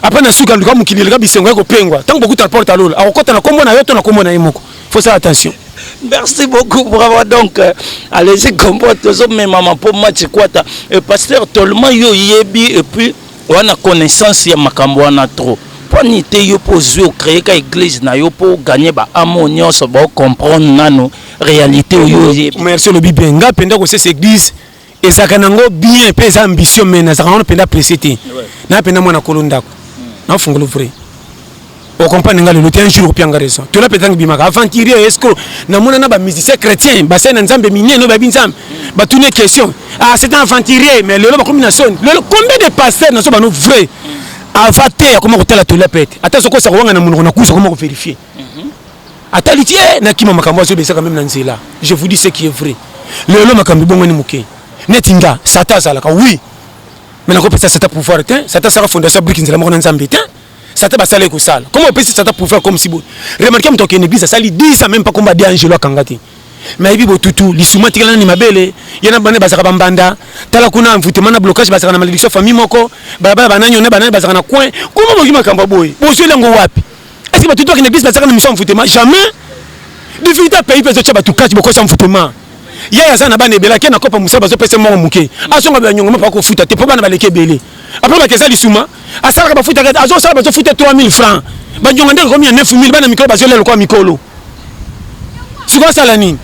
apres na suka luka mokili eleka bisengo ya kopengwa ntango bokutana porte ya lola akokota na nkombo na yo to na nkombo na ye moko faut sala attention merci beaucoup bravo donc euh, alezi gombo tozomemama mpo match ekwata euh, pasteur tolema yo oyebi epuis oza na connaissance ya makambo wana trop poni te yo mpo ozwi ocreye ka eglise na yo mpo ogagne baamo nyonso baocomprendre nano réalité oyo oyebi merci olobi bien ngai mpenza kosesa eglise ezalaka nango bien mpe eza ambition mai nazalaka wana mpenza presse te naa mpenza mwana kolo ndako hmm. naofungolo vrai o comprendre nga lelo te un jour okopia nga raison tola mpenza ngibimaka aventurier esco namona na bamusicien chrétien basali na nzambe minene oyo bayebi nzambe batuni question ah c'est un aventurier mais lelo bakomi na soni lelo combien de pasteur nazo bano vrai ava te akoma kotala tola mpe te ata sokosa kowanga na monoko na kusa akoma koverifie mhm. atali te eh, nakima makambo azobesaka meme na nzela je vous dis ce qui est vrai lelo makambo ebongani moke neti nga sata azalaka oui mais nakopesa sata pouvoir te sata asaka fondation briki nzela moko na nzambe te Satan basala ye kosala. Comment opesi Satan pouvoir comme si boye? Remarquez moto akende église asali 10 ans même pas komba de Angelo akanga te. Mais ayebi botutu lisuma atikala nani mabele ye na bana bazalaka bambanda tala kuna envoûtement na blocage bazalaka na malédiction famille moko balabala banani one banani bazalaka na coin koma boki makambo ya boye bozweli yango wapi est-ce que batutu akende église bazalaka na mission envoûtement jamais difficulté ya pays mpe ezotya bato kati bokosa envoûtement yaya aza na bana ebele ake na kopa mosala bazopesa moko moke azonga banyongo mapa kofuta te mpo bana baleki ebele apres bake eza lisuma asalaka bafutaka te azosala bazofuta 3000 franc banyonga ndenge komi ya 9000 bana mikolo bazolia lokola mikolo sikoyo asala nini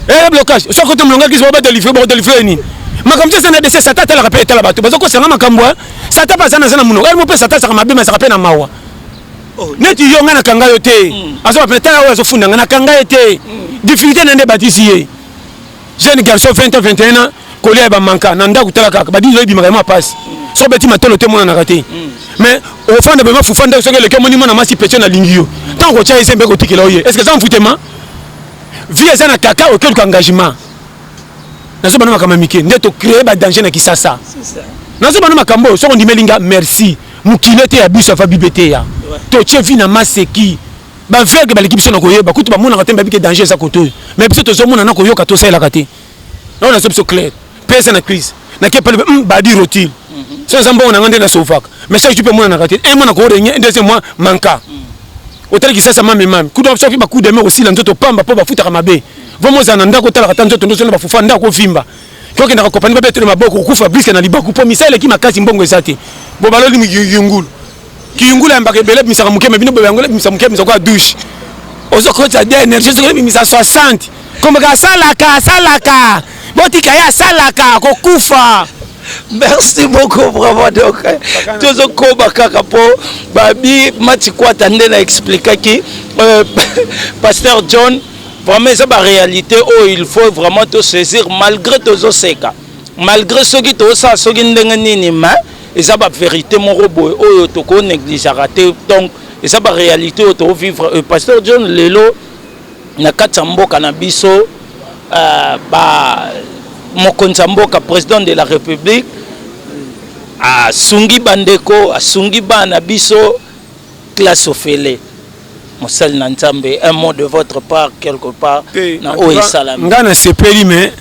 eye eh, blocage soki kote molongaki ziba badelivre bakodelivre nini makambo ti eza na dese sata atalaka mpe etala bato bazokosanga makambo eh. sata mpe aza na aza na monoko elmo mpe sata azaka mabe mazaka mpe na mawa oh, neti yo ngai nakanga yo te mm. azoba pena tala oyo azofunda ngai nakanga ye te mm. difficulté na nde batisi ye jeune garçon 20 ans 21 ans kolia ya bamanka na ndako tala kaka badisi oyebimaka yama pasi mm. so beti matolo te emonanaka te mais ofanda bema fufa ndako soki eleki omoni mwana masi petio nalingi yo ntango kotya ye se mpe kotikela oye est ce que eza mfutema vie eza na kaka oke oluka engagement nazobana makambo ya mike nde tocree badanger na kisasa nazobana makambo oyo soki ondimeli nga merci mokili ete ya biso ya fabi beteya totie vi na maseki baveugle baleki biso na koyeba kutu bamonaka te bayebi ke danger eza koto oyo me biso tozomona na koyoka tosalelaka te nayo nazo biso claire mpe eza na crise nake pale hmm, badi rotile mhm. so eza mbongo na ngai nde nasofaka mais chaque jour mpe emonanaka te un mois na korenye deuxième mois manka mhm. otali kisasa mame mame kutu soki bakude me kosila nzoto pamba mpo bafutaka mabe vraimen ozala na ndako otalaka ta nzoto ndoso na bafufa ndako ovimba to kenda ko kopani babe tole maboko kufa briske na libaku po misa eleki makasi mbongo eza te bo baloli mi yungulu ki yungulu ya mbaka ebele misaka muke me bino bo yango misa muke misa kwa douche ozo ko ta de energie zo ko misa 60 comme ka salaka salaka botika ya salaka ko kufa merci beaucoup vraiment donc eh, tozokoba kaka mpo babi matikwata nde na explikaki euh, pasteur john Vraiment eza ba realite oyo il faut vraiment to saisir malgré tozo seka. Malgré soki to sa soki ndenge nini mais eza ba verite moko boye oyo to ko negligeaka te. Donc eza ba realite oyo to vivre. Euh, Pasteur John lelo na kati ya mboka na biso euh, ba mokonzi ya mboka président de la république asungi bandeko asungi bana biso classe ofele mosali na nzambe un mot de votre part quelque part na oyo esalami nga na sepeli mais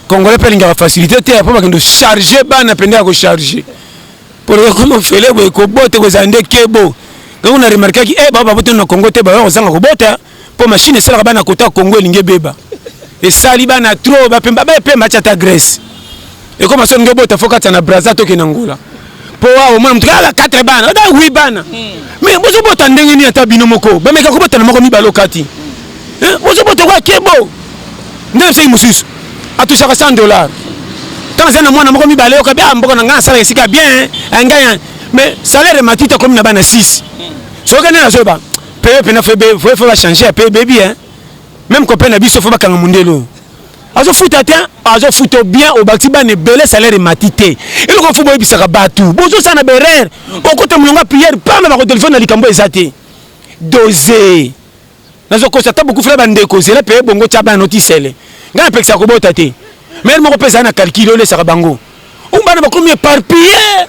congolais mpe alingaka facilité te apo bakende charge bana mpenza ya kocharge mpo ekoma ofele boye kobota ekozala nde kebo ngango na remarkaki e eh, bao babotani na congo te baoya kozanga kobota mpo mashine esalaka bana kota congo elingi ebeba esali bana tro bapemba bapemba atyata grèce ekoma soni ndio bota fo kati na braza toke na ngola po awa omona motu kaka 4 bana ata 8 bana hmm. mais bozobota ndenge nini ata bino moko bameka kobota na moko mibale okati eh, bozobota kwa kebo nde bisaki mosusu atushaka 100 dollar ntango azali na mwana moko mibale yoka bia ah, mboka na ngai nasala esika bien eh, ngai eh. mais salaire matita akomi na bana 6 soki nde nazoyeba peye mpena fo bachange ya peye bebi meme kopena biso fo bakanga mondelo azo futa te azo futa bien obakisi bana ebele salaire emati te eloko fo boyebisaka bato bozosala na berere okota molongo ya priere pamba bakotelefone na likambo eza te doze nazokosa ata bokufela bandeko zela mpe bongo tya bana otisele ngai napekisaka kobota te mere moko mpe ezali na kalkile olesaka bango oyo bana bakomi eparpille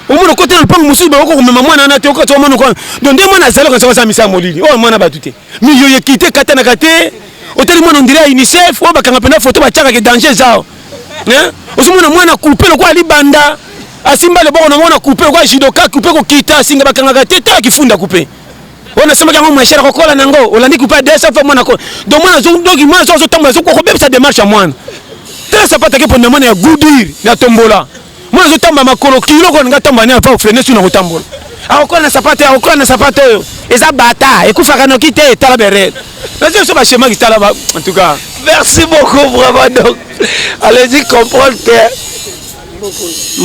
omona okota na lopango mosusu bakoki komema mwana wana te okati omona kwana donc nde mwana azali okanisa baza misala molili oyo mwana bato te miliyo yekite ekatanaka te otali mwana ondire ya unicef oyo bakanga mpena foto batiaka ke danger eza ozomona mwana kupe lokola libanda asimba leboko na mwana kupe lokola judoka kupe kokita asinga bakangaka te tala kifunda kupe oyo nasombaki yango moins cher akokola na yango olandi kupa 200 fois mwana akola donc mwana azodoki mwana so azotambola azokobebisa demarche ya mwana tala sapatu ake mpo na mwana ya gudir ya tombola mwana azotamba makolo kilo kona nga tamba ne apa ofrene suna kotambola akokola na sapatu akokola na sapatu oyo eza bata ekufaka noki te tala berel nazo so bashemaki tala ba en tout cas merci beaucoup vraiment donc allez-y comprendre que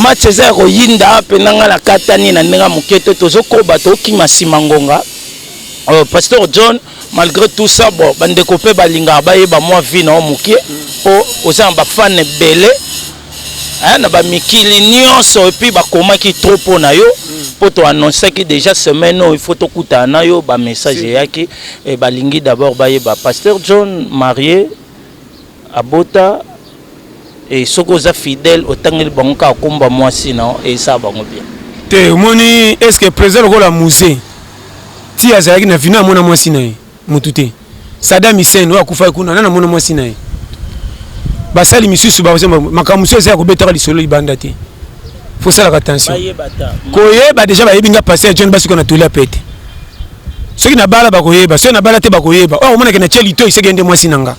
match eza ya koyinda mpe na ngai nakatani na ndenge ya moke te tozokoba tokima nsima ngonga euh, pasteur john malgré tout ça bon bandeko mpe balingaka bayeba mwa vie na yo moke mpo oza na bafane ebele na bamikili nyonso epuis bakomaki trop mpo na yo mpo toannonsaki déjà semaine oyo ifo tokutana na yo bamessage eyaki eh, balingi d'abord bayeba pasteur john marie Abota et soki oza fidèle otangeli bango kaka kombo ya mwasi na yo esala bango bien. Te omoni est ce que president lokola muze ti azalaki na vie na amona mwasi na ye mutu te sadam hussein oyo akufaki kuna nani amona mwasi na ye basali misusu makambo mosusu eza ya kobetaka lisolo libanda te fosalaka attention koyeba deja bayebi nga pasteur john basuka na toli ya pete soki nabala bakoyeba soki nabala te bakoyeba oyo akomonake na tie litoi seke nde mwasi na nga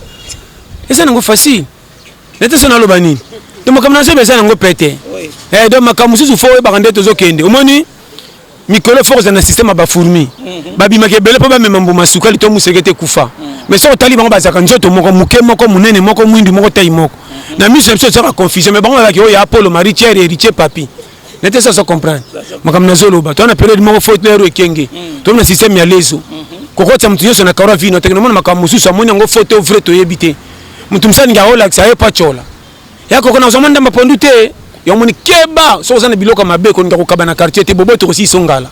eza nango facile nete so naloba nini to makambo na zoba eza nango pete eh, donc makambo mosusu fo oyebaka nde tozokende omoni mikolo fo kozala na systeme ya bafourmi mhm. babimaka ebele mpo bamema mbuma sukali to moseke te kufa mhm. mais soki otali bango bazalaka nzoto moko moke moko monene moko mwindu moko tai moko mhm. na miso na biso ozalaka confusion mais bango bazalaki oyo ya apolo marie tiere heritier papi na te sasa comprendre makambo nazoloba toa na periode moko faute na yaro ekenge mm. tomi na systeme ya lezo mm-hmm. kokotisa moto nyonso na karo ya vino teke namona makambo mosusu amoni yango faute o vrai toyebi te moto mosani nge aolakisa aye pacola ya koko nazwa mwa ndamba pondu te yango moni keba soki oza na biloko ya mabe kolinga kokaba na quartier te bobo tokosiso ngala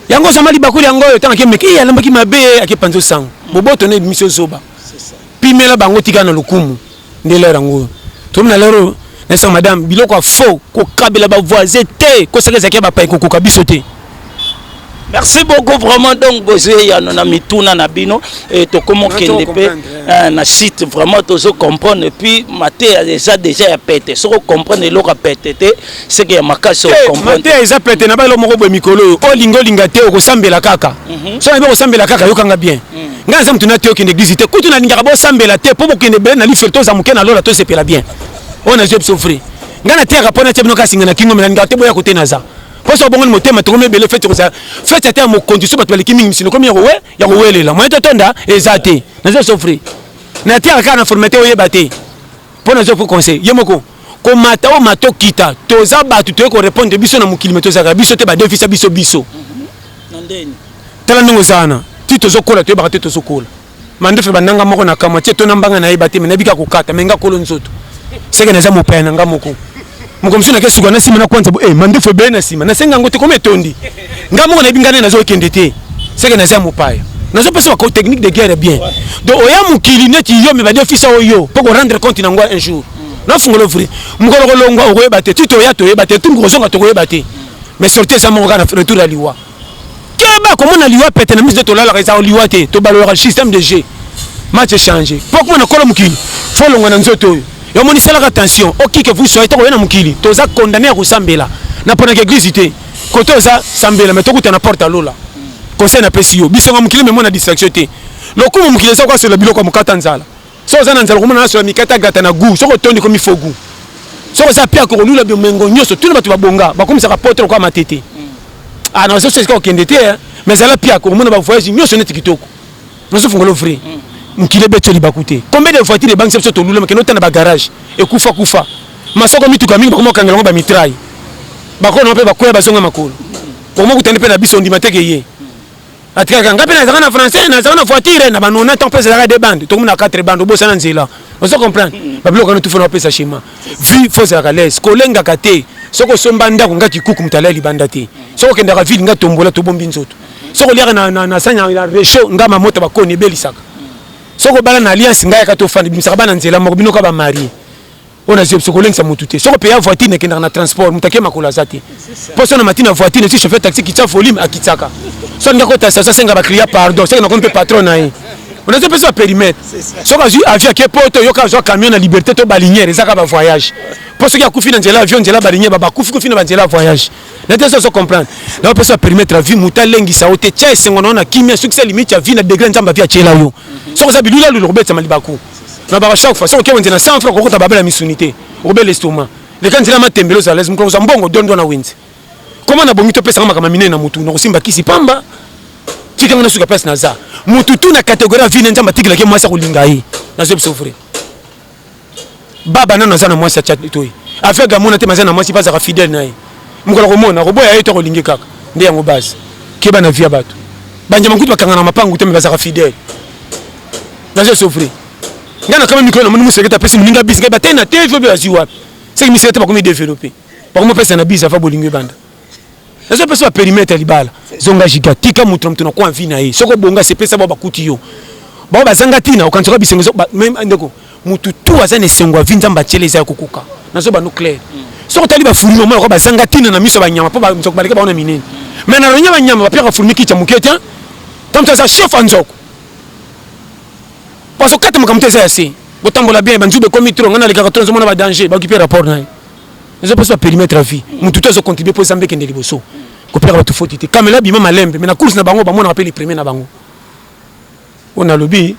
yango osama libakuli yango oyo ntango akemeke iye alambaki mabe akepanza osango boboto na ebimisi ozoba pimela bango tika na lokumu nde lere yango oyo tomi na lere oyo nayesa madame biloko ya faux kokabela bavoisin te kosaka ezalaki ya bapai kokoka biso te merci beaucoup vraiment donc bozwi eyano na mituna na bino e, tokomi okende mpe eh, na site vraiment tozo comprendre epuis mateya eza déjà ya pete soki okomprendre eloko ya pete te seke ya makasi mateya eza pete na baelo moko boye mikolo oyo olinga olinga te okosambela kaka mhm. so nayebi okosambela kaka yokanga bien mhm. ngai naza motu na te okende eglise te kutu nalingaka bosambela te mpo bokende bele na lifelo toza moke na lola tosepela bien oyo nazwi biso fri ngai nateyaka mpo natya bino kasinga na kingo me nalingaka te boya kote naza mpo so obongoni motema tokomi ebele feti kozala feti ata ya mokonzi so bato baleki mingi misino komi ya kowelela moye totonda eza te nazwi biso fri nateyaka kaka na formate oyeba te mpo nazwa mpo conseil ye moko komata o mato kita toza bato toye korepondre biso na mokili me tozalaka biso te badefisa biso biso mhm. tala ndenge oza wana ti tozokola toyebaka te tozokola mandefe bananga moko na kamwa ti etona mbanga nayeba te me nabika kokata me nga kolo nzoto seke naza mopaya na nga moko moko mosusu nake suka na nsima na kwanza e eh, mandefu ebele na nsima nasenga yango te koma etondi ngai moko nayebi ngai nde nazokende te seke naza mopaya nazopesa bako technique de guerre bien donc oya mokili neti yo me badefisa oyo mpo korendre compte na yango un jour nafungola ovri mokolo kolongwa okoyeba te ti toya toyeba te tu mokozonga tokoyeba te mais sorti eza moko kaka na retour ya liwa keba komona liwa pete na miso nde tolalaka ezaka liwa te tobalolaka système de jeu match echange mpo komona kolo mokili fo olonga na nzoto oyo yomoni salaka tension okike vous soyez tokoya na mokili toza condamne ya kosambela na mponaka eglise te kote oza sambela me tokuta na porte ya lola conseil napesi yo bisonga mokili memona distraction te lokumu mokili eza koasola biloko ya mokata nzala Soki oza na nzala okomona naso ya mikate agrata na gout soki otondi komi faux gout soki oza pia kokolula biomengo nyonso tuna bato babonga bakomisaka poto lokola matete ah na ozoso esika okende te eh. mais zala pia okomona bavoyage nyonso neti kitoko nazofungolo vrai mm. mokili ebeti libaku te combien de voiture ebangisa biso tolula makende otana bagarage ekufa kufa masoko mituka mingi bakoma kokangela yango bamitrai bakona mpe bakwea bazonga makolo okoma kutani mpe na biso ondima teke ye atikaka ngai mpe nazalaka na français nazalaka na voiture na banona ntango mpe ezalaka de bande tokomi na quatre bande obosana nzela ozo comprendre babiloko wana tufa na bapesa shema vi fo ozalaka lese kolengaka te soki osomba ndako ngai kikuku moto alali libanda te soki okendaka ville ngai tombola tobombi nzoto soki oliaka na sani ya rechaud ngai mamota bakoni ebelisaka soki obala na alliance ngai yaka tofanda bimisaka bana nzela moko binoka bamarie ona zio biso kolengisa motu te soko peya voiture nakendaka na transport moto ake makolo aza te mpo so na mati na voiture nasi chauffeur taxi kitya volume akitsaka so alingi akota station asenga bacliya pardon seke nakomi mpe patron na ye onazi opesi baperimetre soki azwi avion ake poto yoka azwa camion na liberté to balinière ezaka bavoyage mpo soki akufi na nzela avion nzela balinière babakufi kufi na banzela ya voyage nate soso comprendre na opesi baperimetre ya vie moto alengisa yo te tya esengo na yo na kimia sukisa limite ya vie na degre nzambe avi atyela yo soki oza bilulalu lokobetama libaku na baka chaque fois soki wenze na 100 francs kokota babela ya misuni te okobela estoma leka nzela matembele ozala lese mokolo kozwa mbongo dondwa na wenze koma na bongi topesanga makambo minene na motu nakosimba kisi pamba tika nga nasuka place naza motu tu na kategorie ya vine nzambe atikelaki mwasi akolinga ye nazo biso vrai baba nano aza na mwasi ya chatoi aveugle amona te maza na mwasi mpe azaka fidèle na ye mokolo akomona akoboya ye to akolingi kaka nde yango base keba na vie ya bato banjama kutu bakanga na mapangu te me bazaka fidèle nazo souffrir nga na kama mikolo na moni musekete apesi moninga bisi ngai batei na te jobe azwi wapi seki misekete bakomi développe bakomi opesa na bisi afa bolingo ebanda nazo pesa baperimetre ya libala zonga jiga tika moto na moto na kwa vi na ye soki obonga sepesa bao bakuti yo bao bazanga ntina okanisaka bisengo ndeko motu tu aza na esengo ya vi nzambe atyela eza ya kokoka nazo bano claire mm. soki otali bafulmi omona kwa bazanga ntina na miso ya banyama mpo banzoko baleki bango na minene mai na lonya banyama bapiaka fulmi kitya moke te ntango aza chef ya nzoko Parce que kata makambo te eza ya se. Botambola bien, banjube ekomi trop, ngai nalekaka trop, nazomona ba danger, baokipe rapport na ye. Ezopesa perimetre ya vie. Mutu te azocontribue mpo ezambe ekende liboso. Kopelaka bato foti te. Kamela bima malembe, mais na course na bango bamonaka mpe le premier na bango. Oyo nalobi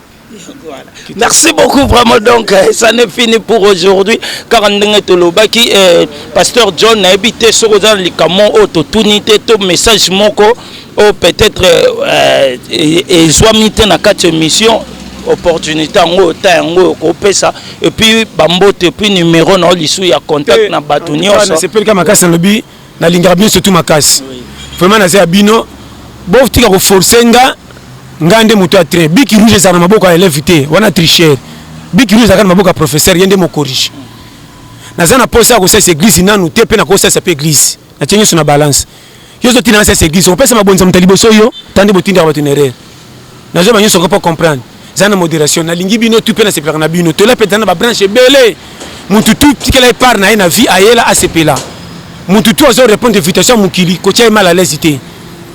Merci beaucoup vraiment donc euh, ça n'est fini pour aujourd'hui car ndenge tolobaki euh, pasteur John nayebi te soki oza na likambo oyo totuni te to message moko oyo peut-être euh, ezwami te na kati ya émission opportunité yango oyo ta yango oyo kopesa epuis bambote epuis numero na yo lisu ya contact eh, na bato nyonso nasepelika makasi nalobi nalingaka bino surtout makasi vraiment naza ya bino botika koforce nga nga nde moto ya train biki rouge ezala na maboko ya eleve te wana tricher biki rouge ezalaka na maboko ya professeur ye nde mokorige naza na posa ya kosalisa eglise nanu te mpe nakosalisa mpe eglise natie nyonso na balance yo zo tina sese eglise opesa mabonza moto liboso yo tande botinda bato na erreur nazo ba nyonso kopo comprendre za na moderation nalingi bino tu pe na sepelaka na bino tola pe za na ba branche ebele mutu tu tikela epart na ye na vie ayela asepela mutu tu azo répondre invitation mokili kotia ye mal à l'aise te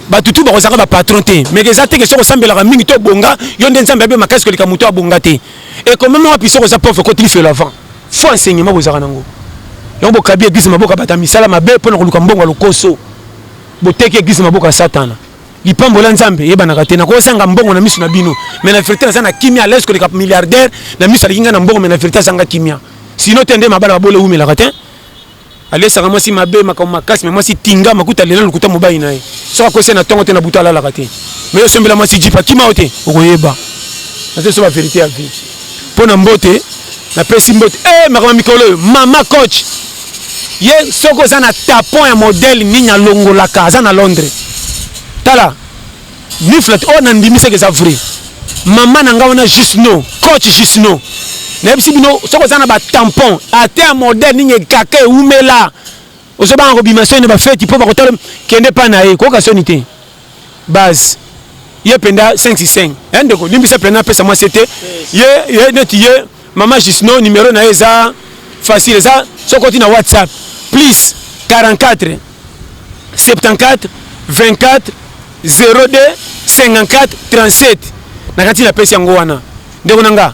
bato tu bakozalaka bapatron te meke eza teke soki osambelaka mingi to obonga yo nde nzambe abe makasi koleka moto abonga te ekomema wapi soki oza pauvre koti lifelo avant Faux enseignement bozalaka nango. Yango bokabi eglise maboka bata misala mabe pona koluka mbongo ya lokoso. Boteki eglise maboka ya satana. Lipambola Nzambe eyebanaka te. Nakozanga mbongo na misu na bino. Mais na verite naza na kimia à l'aise koleka milliardaire na misu aleki nga na mbongo mais na verite azanga kimia. Sinon te nde mabala babole ewumelaka te. alesaka mwasi mabe makambo makasi me mwasi tinga makuta lela lokuta mobali na ye soki akwesi na ntongo te na butu alalaka te me yo sombela mwasi jip akima yo te okoyeba nazosoba verité ya vie mpo na mbote napesi mbote e eh, makambo ya mikolo oyo mama coach ye soki oza na tapon ya modele nini alongolaka aza na londres tala ni flat oyo oh, nandimi seke eza vrai mama na ngai wana juste no coach juste no nayebisi bino soki oza na batampon ata ya modèle nini ekaka ewumela ozobanga kobima soni na bafeti mpo bakotala kende mpa na ye koyoka soni te base ye mpenza 565 e ndeko limbisa mpenza apesa mwasi te ye neti ye Maman Jusno numero na ye eza facile eza soki oti na WhatsApp plus 44 74 24 02 54 37 na kati na pesi yango wana ndeko na nga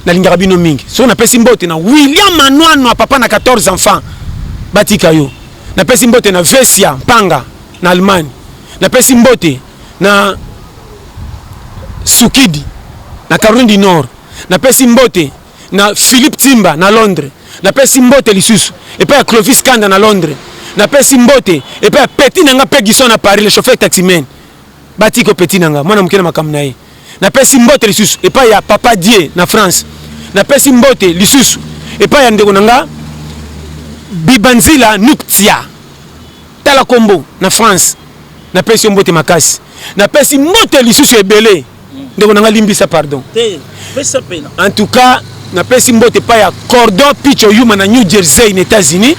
nalingaka bino mingi soki napesi mbote na William Manwanwa papa na 14 enfants batika yo napesi mbote na Vesia Mpanga na Allemagne napesi mbote na Sukidi na Caroline du Nord, napesi mbote na Philippe Timba na Londres, napesi mbote lisusu epai ya Clovis Kanda na Londres, napesi mbote epai ya petit na nga Pegison na Paris le chauffeur taximan batiko petit na nga mwana moke na makambo na ye, napesi mbote lisusu epai ya Papa Die na France, napesi mbote lisusu epai ya ndeko na nga Bibanzila Nuktia. Tala kombo na France. Na pesi yo mbote makasi. Na pesi mbote lisusu ebele. Ndeko na nga limbisa pardon. Te, pesa pena. En tout cas, na pesi mbote pa ya Cordon Picho Yuma na New Jersey na Etats-Unis.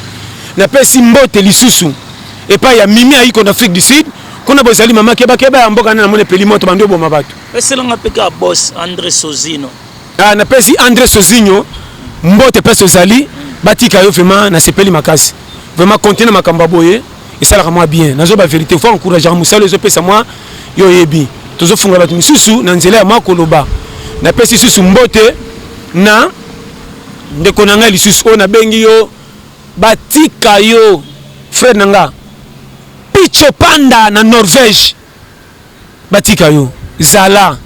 Na pesi mbote lisusu epai ya Mimi Aiko na Afrique du Sud. Kuna bozali mama keba keba ya mboka na namone peli moto bando boma bato. Pesa nga peka boss Andre Sozino. Ah, napesi Andre Sozinho mbote place ozali batika yo vraiment nasepeli makasi vraiment konte na makambo ya boye esalaka mwa bien nazo ba verité fo encourageaka mosala ezopesa mwa yo oyebi tozofunga bato mosusu na nzela ya mwa koloba napesi lisusu mbote na ndeko na ngai lisusu oyo nabengi yo batika yo frere na nga picho panda na norvège batika yo zala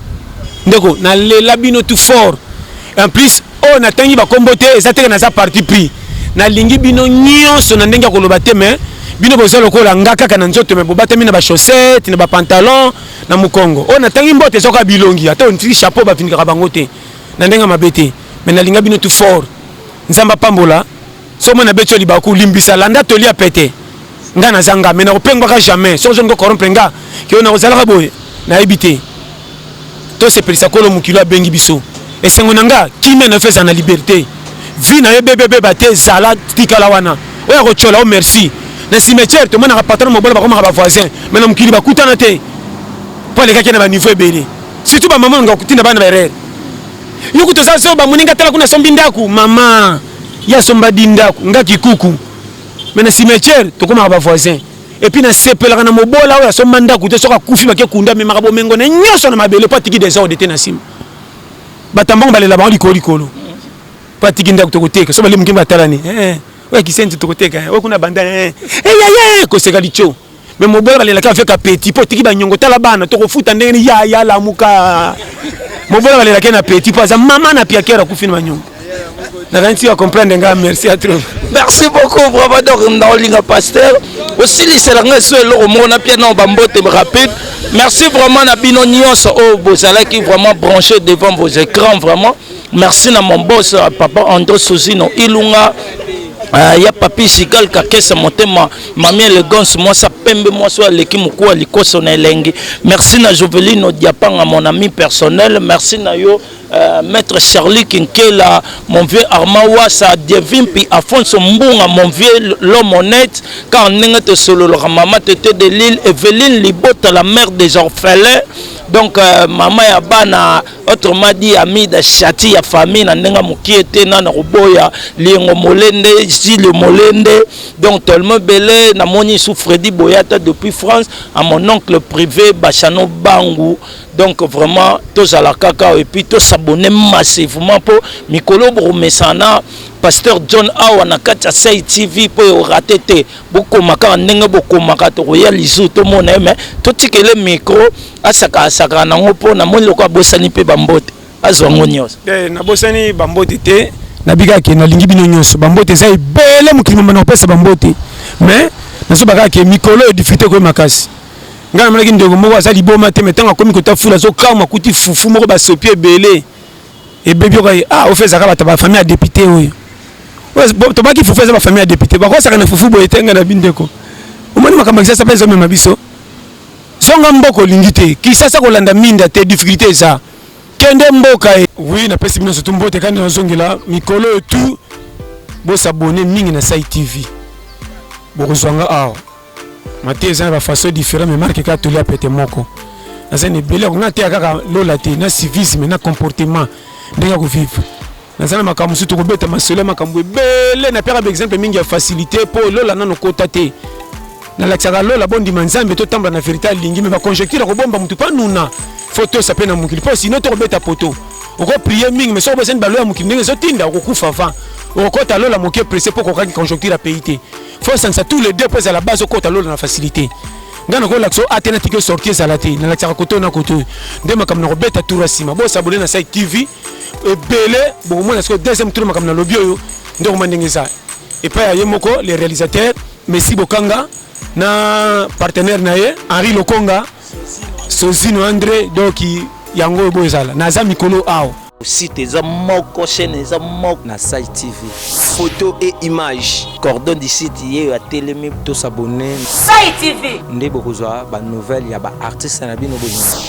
ndeko na lela bino tout fort en plus oyo na tangi ba kombo te eza teke naza parti pris na lingi bino nyonso na ndenge ya koloba te mais bino boza lokola nga kaka na nzoto mais bobatami na ba chaussettes na ba pantalons na mukongo oyo na tangi mbote eza ka bilongi ata on tiki chapeau ba vindika bango te na ndenge mabe te mais na linga bino tout fort nzamba pambola soki mwana abeti yo libaku limbisa landa toli ya pete ngai naza nga mai nakopengwaka jamais soki ozoni kocorrompre nga keo nakozalaka boye nayebi te tosepelisa kolo mokili abengi biso esengo na nga kimia na yo ezala na liberté vie na yo ebebebeba te zala tikala wana oyo akotyola o merci na cimetière tomonaka patana mobola bakomaka bavoisin mai na mokili bakutana te mpo alekaki na baniveau ebele surtout bamama nga kotinda bana baerere yo kutu oza zoba moninga tala kuna asombi ndako mama ye asomba di ndako nga kikuku me na cimetière tokomaka bavoisin epuis nasepelaka na mobola oyo asomba ndako te soki akufi bake kunda amemaka bomengo na nyonso na mabele mpo atiki desorde te na nsima bato ambongo balela bango likolo likolo mpo atiki ndako tokoteka so bale moke batalani eh, eh. oyo akisenti tokoteka eh. oyo kuna banda yaya koseka lico me mobola balelaka avec apeti mpo otiki banyongo tala bana tokofuta ndenge ni yaya lamuka mobola balelaka na apeti mpo aza mama na piakere akufi na banyongo nakanisi ya comprendre ngai merci à trop merci beaucoup bravo donc naolinga pasteur osilisela ngai so eloko moko na pia nao bambote rapide merci vraiment na bino nyonso oyo oh, bozalaki vraiment branché devant vos écrans vraiment merci na mon boss papa andro sosino ilunga uh, ya papi sigal kakesa motema Mamie Elegance mwasi pembe mwasi aleki mokuwa likoso na elengi merci na Jovelino Diapanga mon ami personnel merci na yo euh, maître Charlie Kinkela mon vieux Armand Wassa Dievimpi Afonso Mbunga mon vieux l'homme honnête car ndenge tosololaka mama tete de Lille Evelyne Libota la mère des orphelins donc euh, mama ya bana autrement dit amida shati ya famille na ndenge mokie te na na koboya liengo molende jile molende donc tellement bele namoni sous fredi boyata depuis france à mon oncle privé bachano bangu donc vraiment tozala kaka et puis tosabone massivement mpo mikolo bokomesana pasteur john awa na kati ya sai tv mpo eorate te bokoma kaka ndenge bokomaka tokoya lisu tomona ye mai totikele micro asaka asaka nango mpo namoni lokola abosani mpe bambote azwa yango nyonso eh, nabosani bambote te nabika ke nalingi bino nyonso bambote eza ebele mokili mama nakopesa bambote mais nazoba kaka ke mikolo oyo difite koye makasi ngai namonaki ndeko moko aza liboma te me ntango akomi kota fula azokama akuti fufu moko basopi ebele ebebi okai ah ofe ezaka bato bafamille ya depute oyo tobaki fufu eza bafamille ya depute bakosaka na fufu boye te ngai na bindeko omoni makambo ya kisasa mpe ezomema biso Zonga mboka olingi te. Kisasa kolanda minda te difficulté eza. Kende mboka e. Oui, na pesi bino surtout mbote kandi na zongela mikolo et tout. Bo s'abonner mingi na Sai TV. Bokozwanga awa. Mate eza na ba façon différent mais marque ka tolia pete moko. Naza na ebele ko na te kaka lola te na civisme na comportement ndenge ko vivre. naza na makambo mosusu tokobeta masolo ya makambo ebele napiaka baexemple mingi ya facilité mpo lola nano kota te nalakisaka lola bondima nzambe totambola na verité alingi me baconjecture akobomba motu mpo anuna fo tosa mpe na mokili mpo sino tokobeta poto okoprie mingi me soki obosani balo ya mokili ndenge ezotinda okokufa avant okokota lola moke presse mpo okokaki conjoncture ya pays te fo osangisa tous les deux mpo ezala base okota lola na facilité ngai nakolakisa oyo ate natiki osorti ezala te nalakisaka koto na koto nde makambo nakobeta tour ya nsima bosabone na site tv ebele bokomona sikoyo deuxième tour makambo nalobi oyo nde okoma ndenge eza epai ya ye moko le réalisateur messi bokanga na partenaire na ye henri lokonga sozino andre donc yango oyo boyo ezala naza mikolo awa site eza moko chaîne eza moko na site tv photo et image cordon du site ye oyo atelemi tosabone site tv nde bokozwa banouvelle ya baartiste na bino bolingi